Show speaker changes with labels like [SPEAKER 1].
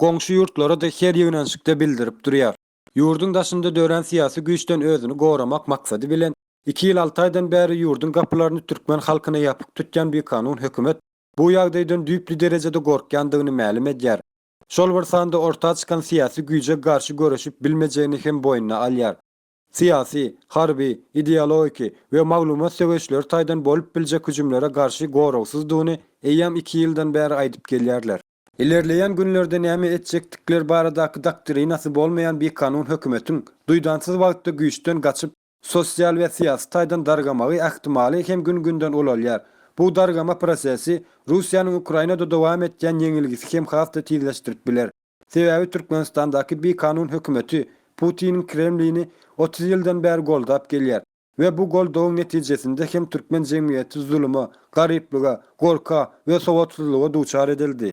[SPEAKER 1] goňşy ýurtlara-da her ýöneşikde bildirip durýar. Ýurduň daşynda dörän syýasy güýçden özüni goramak maksady bilen, iki ýyl alty aýdan bäri ýurduň gapylaryny türkmen halkyna ýapyk tutýan bikanun hökümet bu ýagdaýdan düýpli derejede gorkýandygyny mälim edýär. Şol bir sanda orta çykan syýasy güýje garşy göreşip bilmejegini hem boýnuna alýar. syýasy, harby, ideologiki we maglumat söweşleri taýdan bolup biljek hüjümlere garşy goragsyzdygyny eýýäm iki ýyldan bäri aýdyp gelýärler. Ilerleýän günlerde näme etjekdikleri baradaky doktrinasy bolmaýan bikanun hökümetiň duýdansyz wagtda güýçden gaçyp, sosial we syýasy taýdan dargamagy ähtimaly hem gün-günden ulalýar. Bu dargama prosesi Russiýanyň Ukrainada dowam etýän ýeňilgisi hem has-da tizleşdirip biler. Sebäbi Türkmenistandaky bikanun hökümeti Putiniň Kremlini otuz ýyldan bäri goldap gelýär we bu goldawyň netijesinde hem türkmen jemgyýeti zuluma, garyplyga, gorka we sowatsyzlyga duçar edildi.